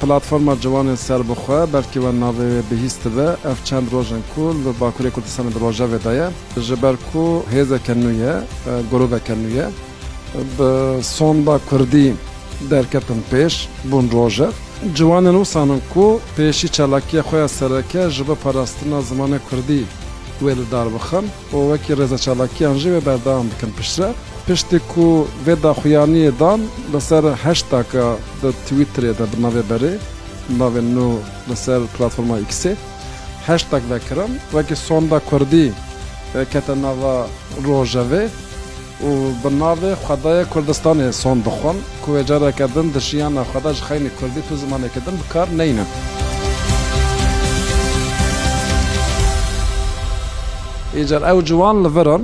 Platforma Ciwanên Serbixwe, belkî we navê wê bihîst dibe, ev çend roj in ku li Bakurê Kurdistanê di rojevê de ye. Ji ber ku hêzeke nû ye, goroveke nû ye. Bi sonda kurdî derketin pêş, bûn rojev. Ciwanên wisan in ku pêşî çalakiya xwe ya sereke ji bo parastina zimanê kurdî wê li dar bixin. û wekî rêza çalakiyan jî wê berdewam bikin pişt re. Piştî ku vê daxuyaniyê dan li ser heştaka di Twitterê de bi navê berê, navê nû li ser platforma Xê heştak vekirin, wekî Sonda Kurdî kete nava rojevê. û bi navê Xwedaya Kurdistanê son dixwin ku wê careke din di jiyana xwe de ji xeynî kurdî tu zimanekî din bi kar neynin. Îcar ew ciwan li vir in.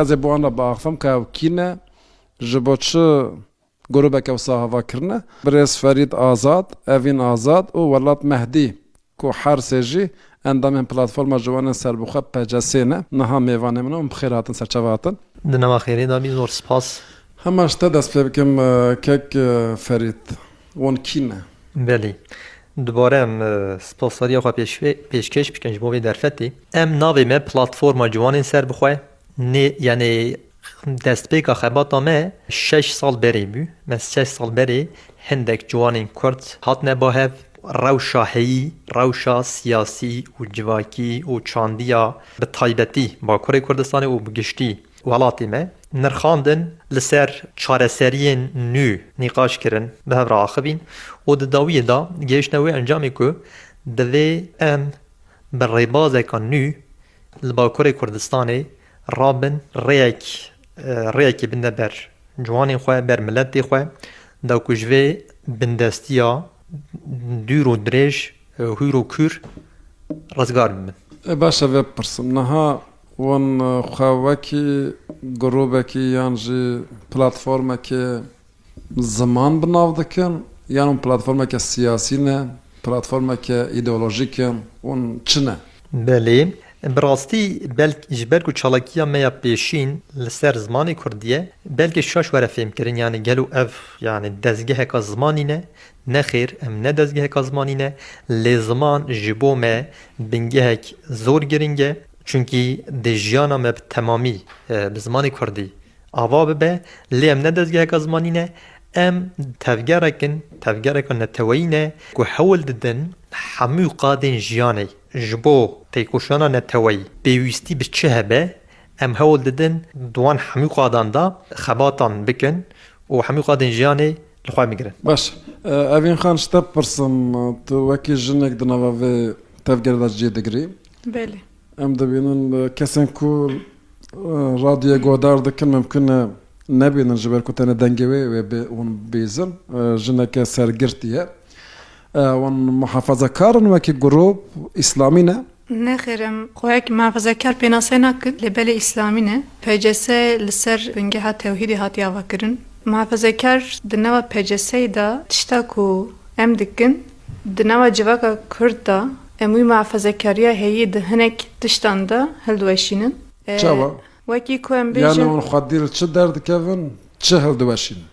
Ez ê bi wan re biaxivim ku ew kî ne, ji bo çi. Grûbeke wisa hava kirine, Birêz Ferîd Azad, Evîn Azad û Welat Mehdî ku her sê jî endamên Platforma Ciwanên Serbixwe, PCS, ne, niha mêvanê min in û bi xêr hatin ser çava hatin. Di nava xêrê de bî, zor spas. Hema ji te dest pê bikim kek Ferîd, wan kî ne? Belê. Dubare em spasdariya xwe pêşkêş bikin ji bo vê derfetê. Em navê me Platforma Ciwanên Serbixwe, Nê yanê destpêka xebata me şeş sal berê bû. Me şeş sal berê hindek ciwanên Kurd hatine ba hev. Rewşa heyî, rewşa siyasî û civakî û çandiya bi taybetî Bakurê Kurdistanê û bi giştî welatê me nirxandin li ser çareseriyên nû nîqaş kirin bi hev re axivîn û di dawiyê de gihiştine wê encamê ku divê em bi rêbazeka nû Li Bakurê Kurdistanê rabin rêyek rêyekê binde ber ciwanên xwe, ber miletê xwe da ku ji vê bindestiya dûr û dirêj hûr û kûr rizgar bibin. E baş e vê bipirsim, niha wan xwe wekî grûbekî yan jî platformekê Ziman bi nav dikin, yan hûn platformeke siyasî ne, platformeke îdeolojîk in, hûn çi ne? Belê, bi rastî belk ji ber ku çalakiya me ya pêşîn li ser zimanê kurdî ye, belkê şaş were fêmkirin yanî gelo ev yanî dezgeheka zimanî ne? Nexêr, em ne dezgeheka zimanî ne, lê ziman ji bo me bingehek zor giring e, çunkî dê jiyana me bi temamî bi zimanê kurdî Ava bibe, lê em ne dezgeheka zimanî ne, em tevgerek in, tevgereka neteweyî ne ku hewl didin hemû qadên jiyanê ji bo têkoşînana neteweyî pêwîstî bi çi hebe, em hewl didin di wan hemû qadan de xebatan bikin û hemû qadên jiyanê li xwe bigirin. Baş e. Evîn Xan, ji te bipirsim, tu wekî jinek di nava vê tevgerê de cî digirî? Belê. Em dibînin kesên ku radyoyê guhdar dikin mimkun e nebînin ji ber ku tenê dengê wê wê bê hûn bihîzin. Jineke sergirtî ye. Wan muhafazekar in wekî grûp, îslamî ne? Nexêr em xweyek muhafazekar pênaseyê nakin lê belê îslamî ne. PCS li ser bingeha tewhîdê hatiye avakirin. Muhafazekar di nava PCS'ê de tişta ku em dikin Di nava civaka Kurd de em wî mehfezekariya heyî di hinek tiştan de hildiweşînin. Çawa? Wekî ku em bêjin. Yanî hûn xwedî li çi derdikevin, çi hildiweşînin?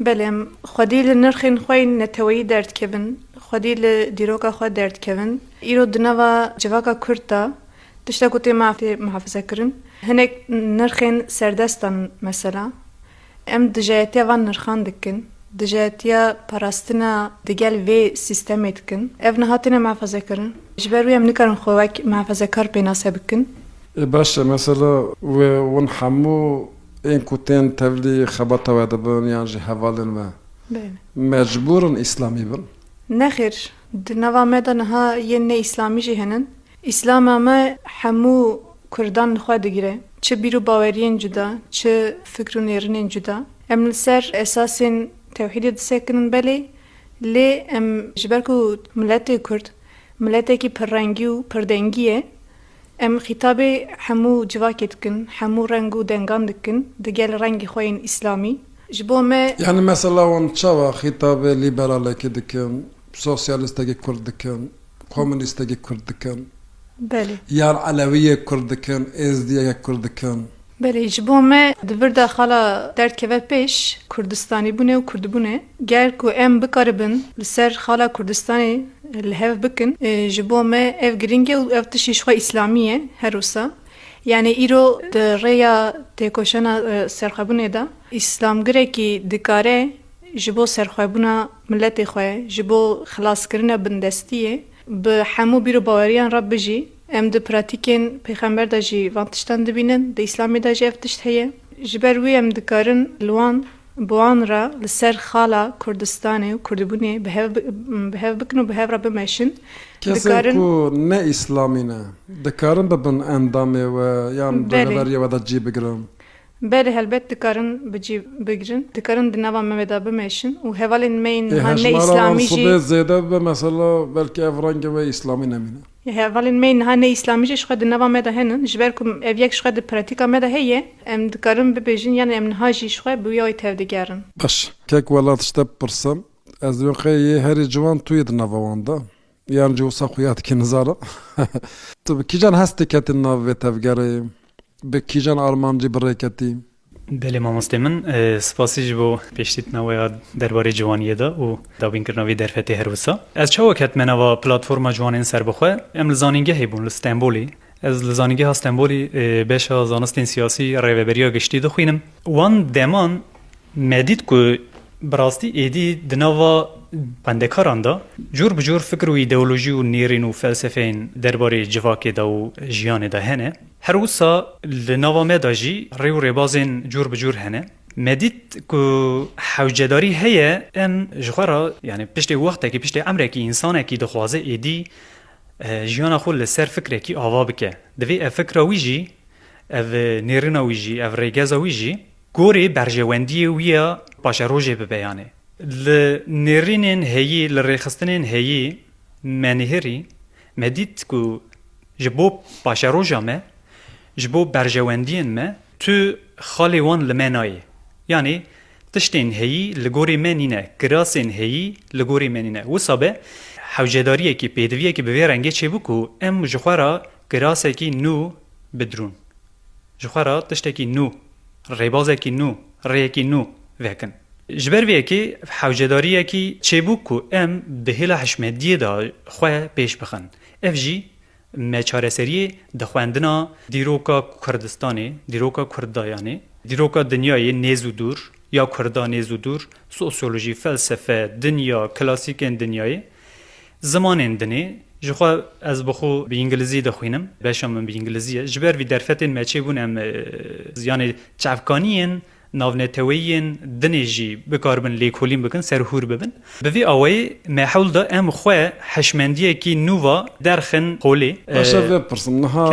Belê em xwedî li nirxên xwe yên neteweyî derdikevin, xwedî li dîroka xwe derdikevin. Îro di nava civaka Kurd de tişta ku tê mehfezekirin hinek nirxên serdestan in. Mesela. Em dijayetiya van nirxan dikin, dijayetiya parastina digel vê sîstemê dikin. Ev niha têne mehefezekirin. Ji ber wî em nikarin xwe wek mehefezekar pênase bikin. Ê baş e mesela wê wan hemû ên ku tên tevlî xebata we de bin yan jî hevalên we mecbûr in îslamî bin? Nexêr, di nava me de niha yên ne îslamî jî hene. Îslama me hemû Kurdan li xwe digire, çi bîr û baweriyên cuda, çi fikr û nêrinên cuda. Em li ser esasên tewhîdê disekinin belê, lê em ji ber ku miletê Kurd miletekî pirrengî û pirdengî ye, em xîtabê hemû civakê dikin, hemû reng û dengan dikin di gel rengê xwe yên îslamî. Ji bo me. Yanî mesela wan çawa xîtabê lîberalekî dikin, sosyalîstekî Kurd dikin? Komûnîstekî kurd dikin. Belê. Yan elewiyê kurd dikin, êzdiyeke kurd dikin. Belê, ji bo me di vir de xala derd keve pêş, kurdistanîbûnê û kurdbûnê. Ger ku em bikaribin li ser xala Kurdistanê li hev bikin, ji bo me ev girîng e û ev tiştî jixwe îslamî ye her wisa. Yanî îro di rêya têkoşana serxwebûnê de, îslamgirekî dikare ji bo serxwebûna Miletê xwe ji bo xilaskirina bindestiyê bi hemû bîr û baweriyan re bijî. Em di pratîkên pêxember de jî van tiştan dibînin, di Îslamê de jî ev tişt heye. Ji ber wî em dikarin li wan bi wan re li ser xala Kurdistanê û kurdbûnê bi hev bikin û bi hev re bimeşin. Kesên ku ne Îslamî ne, dikarin bibin endamê we yan rêveberiyê we de cî bigirin? Belê helbet dikarin bi cî bigirin, dikarin di nava me ve de bimeşin û hevalên me yên niha ne îslamî jî. Ê hejmara wan sibê zêde bibe mesela belkî ev rengê wê îslamî nemîne. Ê hevalên me yên niha ne îslamî jî ji xwe di nava me de henin, ji ber ku ev yek ji xwe di pratîka me de heye, em dikarin bibêjin yanê em niha jî ji xwe bi wî awê tevdigerin. Baş, kek welat ji te bipirsim, ez divêm qey yê herî ciwan tu yê di nava wan de? Yan ji wisa xwe ya dike nizanim. Tu bi kîjan hes diketî nav vê tevgerê? Bi kîjan armancî bi rê ketî? Belê mamostê min, spasî ji bo pêşdîtina we ya derbarê ciwaniyê de û dabînkirina vê derfetê her wisa. Ez çawa ketime nava platforma ciwanên serbixwe? Em li zanîngehê bûn li Stenbolê. Ez li Zanîngeha Stenbolê beşa zanistên siyasî rêveberiya giştî dixwînim. Wan deman Me dît ku bi rastî êdî di nava xwendekaran de cor bi cor fikir û îdeolojî û nêrîn û felsefeyên derbarê civakê de û jiyanê de hene. Her wisa li nava me de jî rê û rêbazên cor bi cor hene. Me dît ku hewcedarî heye em ji xwe re yanî piştê wextekî, piştê emrekî însanekî dixwaze êdî jiyana xwe li ser fikrekî ava bike. Divê ev fikra wî jî, ev nêrîna wî jî, ev rêgeza wî jî Gorî berjewendiyê wî ya paşerojê bi beyanê. Li nêrînên heyî, li rêxistinên heyî me nihirî, me dît ku ji bo paşeroja me, ji bo berjewendiyên me tu xalê wan li me nayê. Yanî tiştên heyî li gorî me nîne, kirasên heyî li gorî me nîne. Wisa be hewcedariyekî, pêdiviyekî bi vê rengê çêbû ku em ji xwe re kirasekî nû bidrûn. Ji xwe re tiştekî nû, rêbazekî nû, rêyekî nû vekin. Ji ber vê yekê hewcedariyekî çêbûk ku em bi hêla hişmediyê de xwe pêş bixin. Ev jî neçareseriyê di xwendina dîroka Kurdistanê, dîroka Kurdayanê, dîroka dinyayê nêz û dûr ya Kurda nêz û dûr, sosyolojî, felsefe, dinya, klasîkên dinyayê Zimanên dinê, ji xwe ez bi xwe bi îngilizî dixwînim, beşa min bi îngilizî ye. Ji ber vî derfetên me çêbûn em yanê çavkaniyên navneteweyiyên dinê jî bikaribin lêkolîn bikin, serhûr bibin. Bi vî awayî me hewl da em xwe hişmendiyekî nû va derxin holê. Baş e vê pirsim. Niha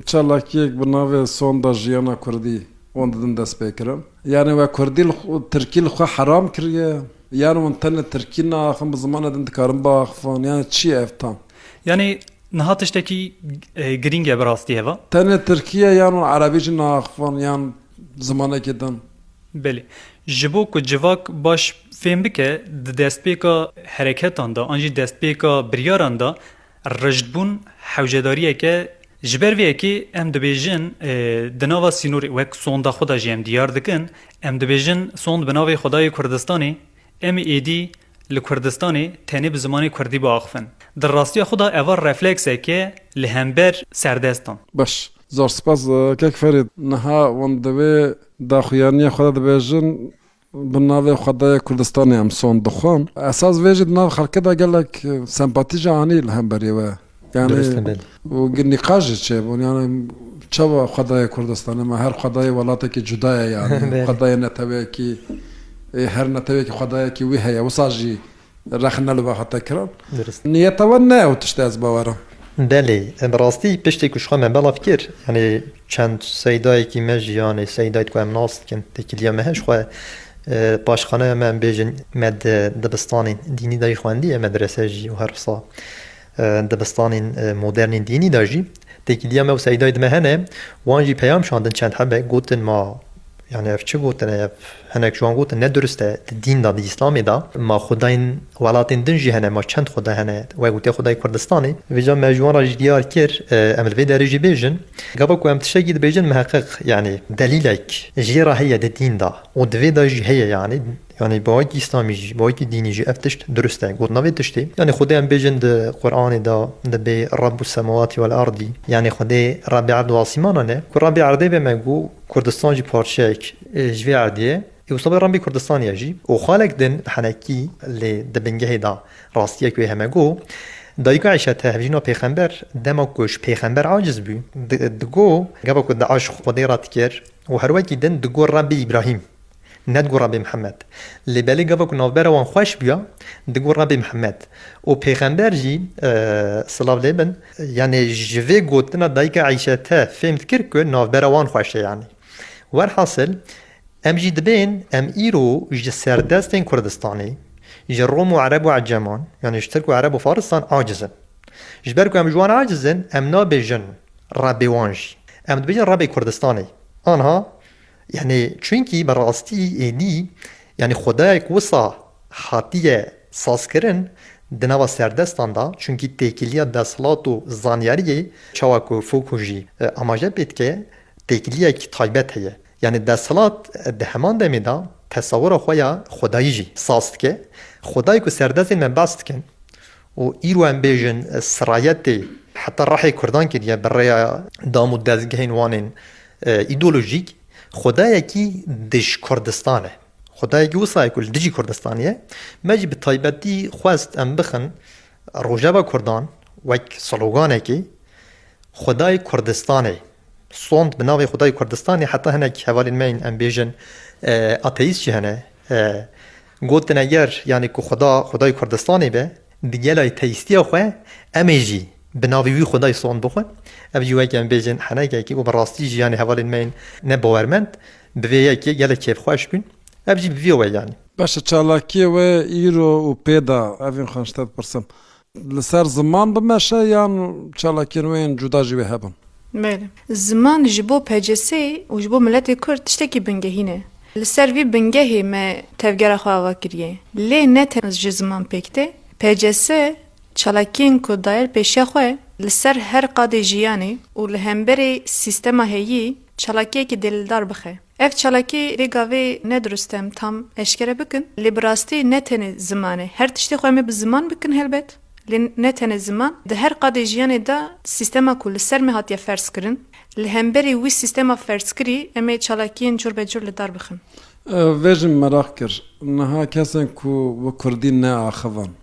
çalakiyek bi navê Sonda Jiyana Kurdî wan didin destpêkirin. Yanê we Kurdî li Tirkî li xwe heram kiriye? Yan wan tene tirkî naaxin bi zimana din dikarin biaxivin yan çi ye ev tam? Yanî niha tiştekî girîng e bi rastî heva? Tene tirkî ye yan wan erebî jî naaxivin yan zimanekî din? Belê. Ji bo ku civak baş fêm bike di destpêka hereketan de an jî destpêka biryaran de, Rijdbûn hewcedariyek e. Ji ber vê yekê em dibêjin di nava sînorê wek sonda xwe de jî em diyar dikin, em dibêjin sond bi navê Xwedayê Kurdistanê, em ê êdî li Kurdistanê tenê bi zimanê Kurdî biaxivin. Di rastiya xwe de eva refleksek e li hember serdestan. Baş, zor spas kek Ferîd. Niha hûn di vê daxuyaniya xwe de dibêjin Bi navê Xwedayê Kurdistanê em son dixwin. Esas vê jî di nav xelkê de gelek sempatî jî anî li hemberî we. Yanî û nîqaş jî çêbûn. Yanî çawa Xwedayê Kurdistanê me her xwedayê welatekî cuda ye yanî. Xwedayê netewekî ê her netewekî xwedayekî wî heye. Wisa jî Rexne li we hate kirin. Durist. Niyeta we ne ew tişt e ez bawer im. Belê, bi rastî piştê ku ji xwe me belav kir, yanî çend seydayekî me jî yanî seydayî ku em nas dikin têkiliya me heye ji xwe paşxaneya me em bêjin me di dibistanê dînî de jî xwendiye, medrese jî û her wisa. Dibistanên modernên dînî de jî têkîliya me û Seydayê di me hene, wan jî peyam şandin çend hebek, gotin ma yanî ev çi gotin e, ev hinek ji wan gotin ne dirust e, di dîn de, di îslamê de ma xwedayên welatên din jî hene, ma çend xweda hene, wek û tê xwedayê Kurdistanê. Vêca me ji wan re jî diyar kir, em li vê derê jî bêjin, gava ku em tiştekî dibêjin miheqiq yanî delîlek jê re heye di dîn de û di vê de jî heye yanî, Yanî bi ayîtî îslamî jî, bi ayîtî dînî jî ev tişt dirust e. Gotina vê tiştê, yanî Xwedê em bêjin di Quranê de dibê Rabbûs semawatî wel ardî, yanî Xwedê Rabbê erd û asîmanan e. Ku Rabbê erdê be me got Kurdistan jî parçeyek ji vê erdê ye ê wisa be Rabbê Kurdistanê ye jî. Û xalek din henekî lê di bingehê de rastiyek wê heme got, Dayika Îşe te hevjîna pêxember, dema ku ji pêxember aciz bû, digot, gava ku Daiş Xwedê ret kir, Û her wekî din digot Rabbê Îbrahîm, nedigot Rabbê Mihemed. Lê belê gava ku navbera wan xweş bûya, digot Rabbê Mihemed. Û pêxember jî, silav lê bin, yanî ji vê gotina dayika Eîşete fêm dikir ku navbera wan xweş e yanî. Werhasil, em jî dibên em îro ji serdestên Kurdistanê, ji Rom û Ereb û Eceman, yanî ji Tirk û Ereb û Faristan aciz in. Ji ber ku em ji wan aciz in, em nabêjin Rebê wan jî. Em dibêjin Rebê Kurdistanê. Anha, yanî çunkî bi rastî êdî, yanî xwedayê ku wisa hatiye sazkirin di nava serdestan de, çunkî têkiliya desthilat û zanyariyê, çawa ku Foucault jî amaje pê dike, têkiliyek taybet heye. Yanî desthilat di heman demê de tesawura xwe ya xwedayî jî saz dike. Xwedayê ku serdestên me behs dikin Û îro em bêjin sirayetê heta rehê kurdan kiriye bi rêya dam û dezgehên wan ên îdeolojîk, xwedayekî dij Kurdistan e. Xwedayekî wisa ye ku li dijî Kurdistanê ye. Me jî bi taybetî xwest em bixin Rojava Kurdan wek sloganekê Xwedayê Kurdistanê sond bi navê Xwedayê Kurdistanê heta hinek hevalên me yên em bêjin ateîst jî hene Gotine ger yanî ku Xweda, Xwedayê Kurdistanê be, bi gelayî teyîstiya xwe, em ê jî bi navê wî Xwedayê son bixwin. Ev jî weke em bêjin henekekî û bi rastî jî yanî hevalên me yên ne bawermend bi vê yekê gelek kêfxweş bûn. Ev jî bi vî we yanî. Baş e çalakiyê we îro û pê da evîn xwe ji te bipirsim. Li ser ziman bimeşe yan çalakiyên wê yên cuda jî wê hebin? Belê. Ziman ji bo PCS'ê û ji bo miletê Kurd tiştekî bingehîn e. Li ser vî bingehê me tevgera xwe ava kiriye. Lê ne tenê ji ziman pêk tê. PCS çalakiyên ku dayer pêşiya xwe li ser her qadê jiyanê û li hemberî sîstema heyî çalakiyekî dêldar bixe. Ev çalakî vê gavê ne dirust em tam eşkere bikin, lê bi rastî ne tenê ziman e. Her tiştê xwe em ê bi ziman bikin helbet, lê ne tenê ziman. Di her qadê jiyanê de sîstema ku li ser me hatiye ferzkirin, li hemberî wî sîstema ferzkirî em ê çalakiyên cur be cur li dar bixin. Vê jin meraq kir, niha kesên ku bi kurdî neaxivan,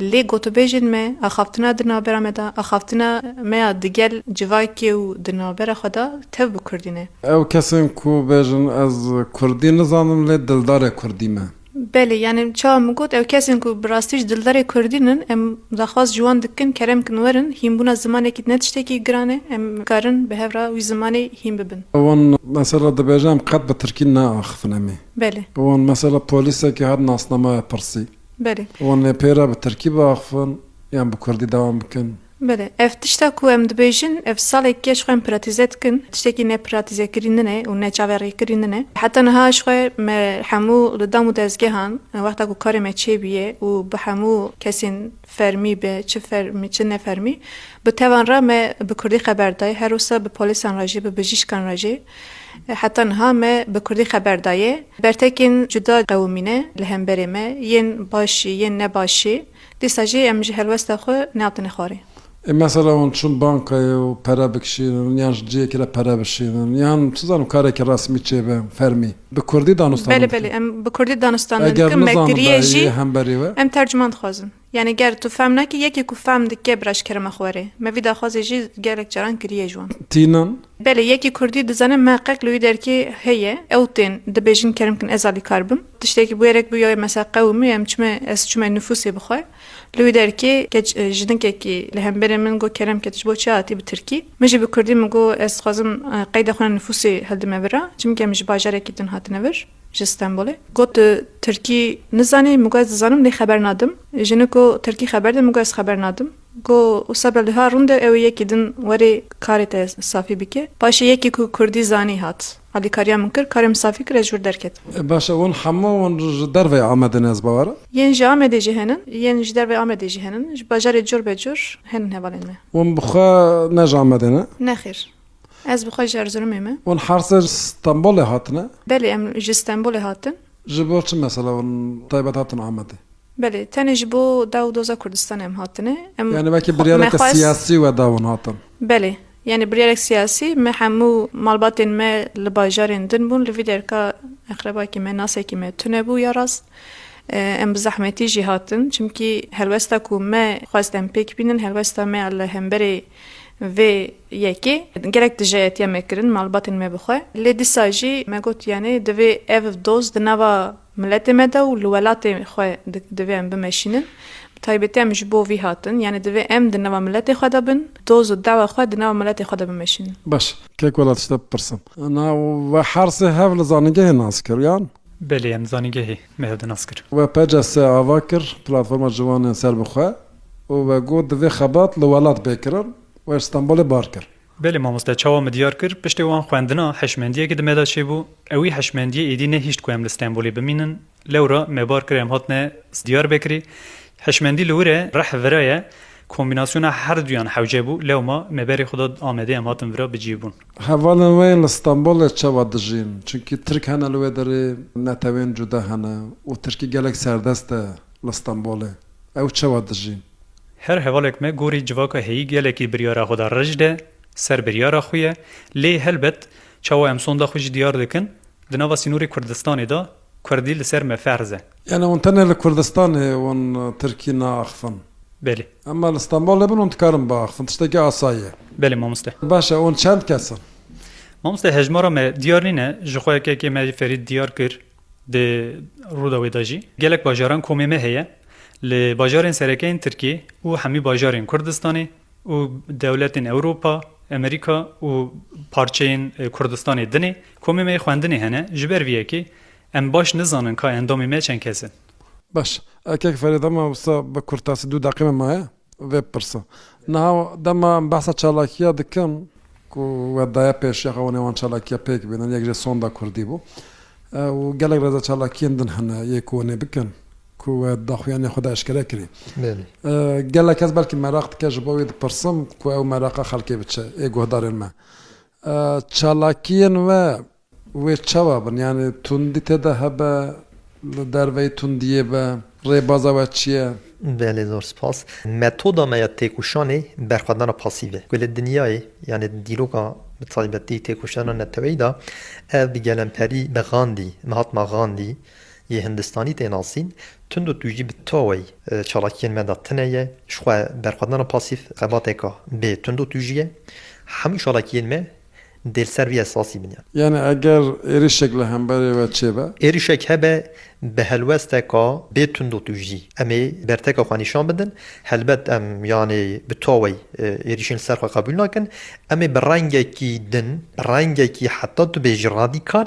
Lê gotûbêjên me, axaftina di navbera me de, axaftina me ya digel civakê û di navbera xwe de tev bi kurdî ne. Ew kesên ku bêjin ez kurdî nizanim lê dildarê kurdî me. Belê, yanî çawa min got, ew kesên ku bi rastî jî dildarê kurdî ne, em daxwaz ji wan dikin kerem kin werin, hînbûna zimanekî ne tiştekî giran e, em dikarin bi hev re wî zimanê hîn bibin. Wan mesela dibêje em qet bi tirkî neaxivin em ê. Belê. Wan mesela polîsekî her nasnameyê pirsî. Belê. Wan lê pê re bi tirkî biaxivin yan bi kurdî dewam bikin? Belê. Ev tişta ku em dibêjin, ev salek ye ji xwe em pratîze dikin. Tiştekî nepratîzekirî nine û neçaverrîkirî nine. Heta niha ji xwe me hemû li dam û dezgehan wexta ku karê me çêbûye û bi hemû kesên fermî be çi fermî çi nefermî bi tevan re me bi kurdî xeber dayê. Her wisa bi polîsan re jî bi bijîşkan re jî. Heta niha me bi kurdî xeber dayê. Bertekên cuda qewimî ne li hemberê me, yên başî, yên ne başî. Dîsa jî em ji helwesta xwe nehatine xwarê. Ê mesela hûn çûn bankayê û pere bikişînin yan ji cihekê re pere bişînin yan çi zanim karekî resmî çêbe fermî bi kurdî danûstanan dikin? Belê belê em bi kurdî danûstanan dikin me kiriye jî em tercuman dixwazin. Yanî ger tu fehm nekî yekê ku fehm dike bi reşkerema xwe rê. Me vî daxwazê jî gelek caran kiriye ji wan. Tînin. Belê yekê kurdî dizane meqeq li wî derkê heye. Ew tên dibêjin kerim kin ez alîkar bim. Tiştekî bi wê rek bûye mesela qewim û em çime ez çime nifûsê bi xwe. Li wî derkê keç jinikekî li hemberê min got Kerem ke tu ji bo çi hatî bi tirkî? Min jî bi kurdî min got ez dixwazim qeyda xwe ya nifûsê hildime bira. Çimke em ji bajarekî din hatine vir. ji Stenbolê got Tirkî nizanî, min got ez dizanim lê xeber nadim. Jinik got Tirkî xeber de, min got ez xeber nadim. Got wisa be liha rûnde ew ê yekî din werê karê te safî bike. Paşê yekî ku kurdî zanî hat. Alîkariya min kir, karê min safî kir, ez ji wir derketim. Baş e, hûn hemû hûn ji derveyê Amedê ne, ez bawer e? Yên ji Amedê jî henin, yên ji derveyê Amedê jî henin. Ji bajarê cur be cur henin hevalên me. Hûn bi xwe ne ji Amedê ne? Nexêr. Ez bi xwe ji Erzurumê me. Hûn Hersê ji Stenbolê hatine? Belê em ji Stenbolê hatin. Ji bo çi mesela hûn taybet hatin Amedê? Belê tenê ji bo daw û doza Kurdistanê em hatine. Em Yani weke biryareke xwest siyasî we da hûn hatin? Belê yani biryarek siyasî me hemû malbatên me li bajarên din bûn li vî derka eqrebakî me nasekî me tune bû ya rast em bi zehmetî jî hatin çimkî helwesta ku me xwest em pêk bînin helwesta me ya li hemberê Vê yekê gelek dijeyetiya me kirin malbatên me bi xwe, lê dîsa jî me got yanê divê ev doz di nava miletê me de û li welatê xwe divê em bimeşînin. Bi taybetî em ji bo vî hatin, yanê divê em di nava miletê xwe de bin, doz û dawa xwe di nava miletê xwe de bimeşînin. Baş, kêk wela tiştek bipirsim. Na, we hersê hev li zanîngehê nas kiriyan? Belê em zanîngehê me hev di nas kir. We PCS ava kir Platforma Ciwan ên Serbixwe û we got divê xebat li welat bê kirin, we ji Stenbolê bar kir. Belê mamoste çawa min diyar kir piştê wan xwendina hişmendiyekî di me de çêbû, ewî hişmendiyê êdî nehîşt ku em li Stenbolê bimînin, lewra me bar kir em hatine Diyarbekirê, hişmendî li wir e, rih vira ye, kombînasyona her duyan hewce bû, lewma me berê xwe da Amedê em hatin vira bi cî bûn. Hevalên wê li Stenbolê çawa dijîn? Çunkî Tirk hene li wê derê, netewên cuda hene û Tirkî gelek serdest e li Stenbolê. Ew çawa dijîn? Her hevalek me gorî civaka heyî gelekî biryara xwe da rej de, ser biryara xwe ye. Lê helbet çawa em sonda xwe jî diyar dikin, di nava sînorê Kurdistanê de, Kurdî li ser me ferz e. Yanî hûn tenê li Kurdistanê wan tirkî naaxivin? Belê. Ema li Stenbolê bin hûn dikarin biaxivin, tiştekî asa ye. Belê mamoste. Baş e, hûn çend kes in? Mamoste hejmara me diyar nîne, ji xwe yekekê me jî Ferîd diyar kir di Rûdawê de jî. Gelek bajaran komê me heye, li bajarên serekeyên tirkî û hemî bajarên Kurdistanê û dewletên Ewropa, Amerîka û parçeyên Kurdistanê din e. Komê me yê xwendinê hene, ji ber vê yekê em baş nizanin ka endamê me çend kes in. Baş, erkek ferê dema wisa bi kurtasî du deqîme maye vê bipirsa. Niha dema em behsa çalakiya dikin ku we daye pêşiya xwe û nêwan çalakiya pêk bînin, yek jê sonda kurdî bû û gelek rêzecalakiyên din hene yê ku hûn ê bikin Ku we di daxuyanê xwe de eşkere kirî. Gelek kes belkî meraq dike ji bo wê dipirsim ku ew meraqa xelkê bi çi? Ê guhdarên me. Çalakiyên we wê çawa bin? Yanî tundî tê de hebe? Li derveyî tundiyê be? Rêbaza we çi ye? Belê zor spas. Metoda me ya têkoşanê berxwedana pasîv e. Ku li dinyayê yanî di dîroka bi taybetî têkoşana neteweyî de ev bi gelemperî bi Gandî, Mahatma Gandî, Yê Hindistanî tê nasîn, tund û tûjî bi tawey çalakiyên me de tine ye. Ji xwe berxwedana pasîf xebateke bê tund û tûjî ye. Hemû çalakiyên me dê li ser vî esasî bine. Yanî eger êrişek li hemberê we çêbe? Êrişek hebe bi helwesteke bê tund û tûjî em ê berteka xwe nîşan bidin. Helbet em yanî bi tawey êrişên li ser xwe qebûl nakin. Em ê bi rengekî din, rengekî heta tu bêjî radîkal,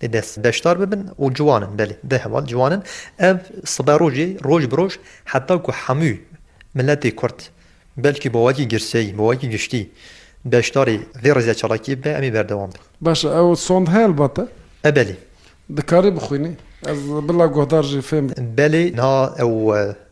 Dê dest beşdar bibin û ciwan in, belê bi heval ciwan in. Ev sibe rojê roj bi roj heta ku hemû miletê kurd belkî bi wekî girseyî, bi wekî giştî beşdarî vê rizya çalakiyê bibe em ê berdewam bin. Baş e, ew sond heye li ba te? E belê. Dikarî bixwînî? Ez bila guhdar jî fêm bikim. Belê, niha ew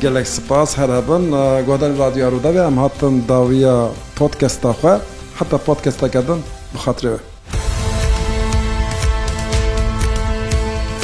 Gelek spas her hebin. Guhdarên Radyoya Rûdawê em hatin dawiya podkesta xwe. Heta podkesteke din bi xatirê we.